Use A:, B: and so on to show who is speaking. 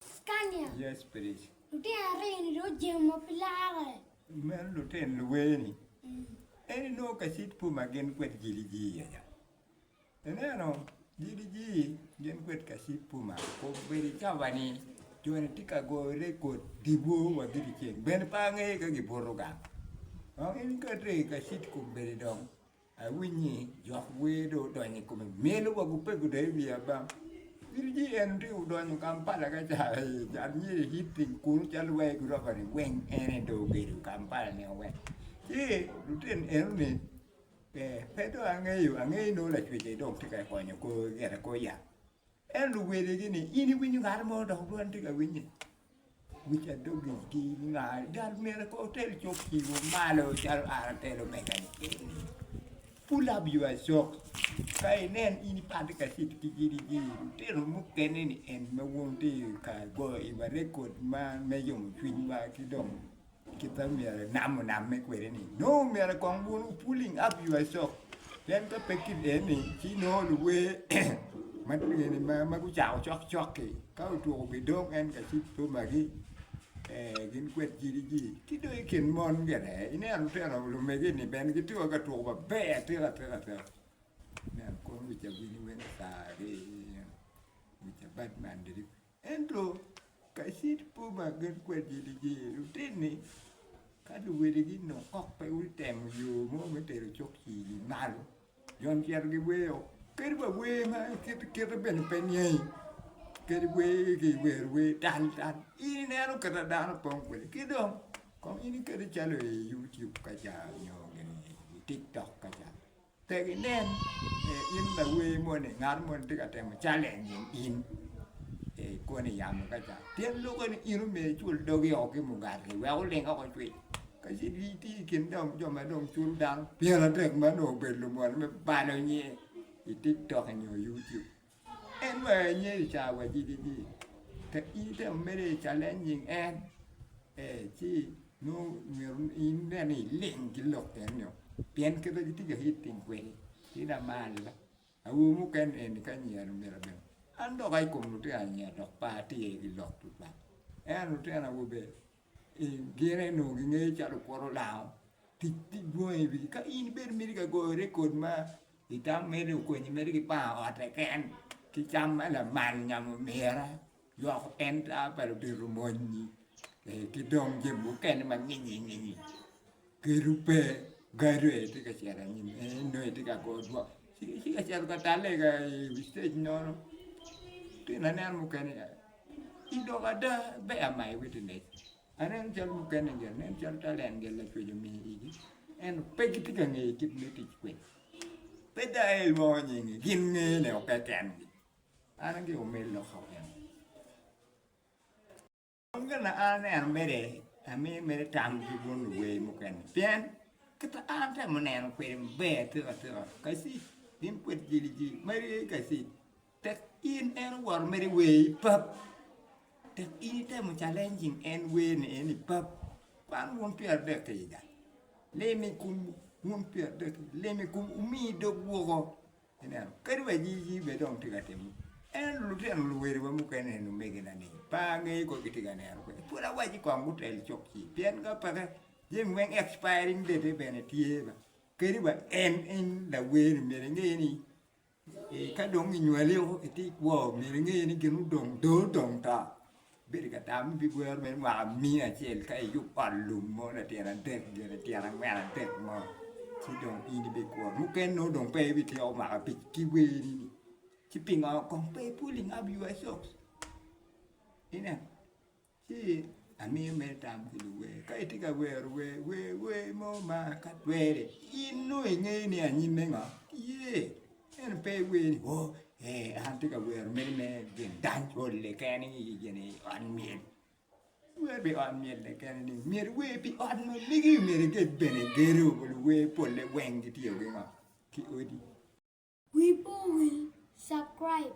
A: Scania. Yes please.
B: Lutino aryo ni
A: dong ojemo ma pe larre. Meno lutino
B: luwee ni en inongo kacit pu ma gin kwed jili jii aya. Ineno jili jii gin kwed kacit pu ma obedo cawa ni jo ni tye ka goyo record diwo wa gidi ceng ben pe angeyo ka gibuto gang. Dong in ikati kacit ku bedi dong. Awinyi jok wer do odonyo i kome melo wa gupe gudoyo wiya bam. Iri ji en ti udonyo Kampala ka ca an myeri hit piny kunu calo wai guroba ni weng ene do ogedo Kampala ni weng. Ci lutin eno ni pe do angeyo angeyo no lacwece dong ti ka konyo ko gire ko ya. Ento luwedegi ni, In iwinyo ngat mo dok dwani tye ka winye? Wica dogigi ngar gal myero ka otel cuk piwu malo calo an atelo mega ni eni. Pull up your socks. Ka inen in ipatte ka cit ki gidigi, lutino mukene ni en ma wun tye ka goyo iwa rekod ma me yomo cwinywa ki dong Kit ma myero inam onamme kwede ni nongo myero kong wun wu pulling up your shock pien ka pe kit eni ci nongo luwer ma eni ma gucako cok cok-ki ka otwuku gidong en ka ci bomagi ee gin kwed jidiji ki dong i kin mon bene ineno lutino lumegi-ni bene gitye wai ka twuku maber atika tika tika ineno kono wic awini weng sari wic abad man diri. Ento ka cit po ma gin kwed jiligi, lutinni ka luwiligi onongo kok pe gutemo yo mo me tero cuk cili malo, jo ni cito giweyo kadi wa wer ma kite kite bene pe niangi, kadi wer ki wero wer tal tal in ineno kit ma dano opong kwede ki dong kong in iketo calo i YouTube kaca nyo gin eni i TikTok kaca. Pe ginen ni in lawer moni ngat moni tye ka temo challenging in ee ikone i yamo ka ca pien lube ni in omyero icul dogi oo ki mugati wek oling oko cwiny ka ci in itye i kin dong jo ma dong culo dano pyeratek ma dong obedo lumony me balo nyer i tiktok nyo yuciub. En wek enyer i cawa wacidi ni ka in itemo mere i challenging en ee ci nongo myero in nen ni iling ki lok kene nio pien kit ma gitye ka hitting kwede tye dong malona. Awobi mukene eni ka anyero myero abed an dok aye i kom lutino anyira dok par aye tye ki lok tutwal ento lutino awobe. I gin eni onongo gingeyo calo okwoto lango tic tic dwong aye i wigi. Ka in bene imiti ka goyo rekod ma itamo mere okonyi mere ki panga otte keken ki cam ma lamal nyamo omira lwoko enta pa lutito monyi ki dong jami mukene ma nginyi nginyi. Keto pe gado aye tye ka cito anyim en nonge tye ka go dwok ci ci ka cito ka talle ka i wi stage nono tyen anen mukene ya ci dok ada ber ama i witness aneno cal mukene ni nen calo tal en gin lacwec omi igi ento pe gitye ka ngeyo kit me tic kwede pe dong aye ilwongo nyingi gin ngene o keken-ni an aye omi lokka kene. Kong gin ma an aneno mere amiyo mere tam ki bun luwer mukene pien kit ma an atemo neno kwede maber atika atika kaci gin pwod giligi marye kaci tek in en owoto mere wer ipap tek in itemo calencing en wer ni en ipap man wun pyerardek ki iga lem i kom wun pyerardek lem i kom wumi dog woko. Ineno, kadi wa nyigi bene dong tye ka timo. Ento lutino luweriwa mukene, lumeginani, pe angeyo kong gitye ka neno kwede. Pwod awacci kong gutel cok ci, pien ka peke, jami weng expiring date-e bene tye. Kadi wa en, in lawerni myero inge ni, ee, ka dong inywali woko itye ikwo, myero inge ni gin odong dong, dong to. Bedo ka tam ni bigwero meno mwaka miya acel ka iyub ot lum mo latyena adek gire tyena angwen adek mo ci dong in ibikuro mukene nongo dong pe ibityeko mwaka abic ki weni ni ci pingo kong pe pulling up your socks ineno ci amiyo mere tam ki luwer ka itye ka wero wer wer wer mo ma ka twere in nongo ingeyo ni anyim me ngo tye En pe iwer ni, oh, ee, an atye ka wero mere me gin dany olle kene i gini ot myel. Iwer pi ot myel-le kene ni, myero iwer pi ot ma ligi, myero iged bene gedo, luwer polle weng gitiyo ki ngo? Ki odi.
A: Wi
B: po wil subcribe.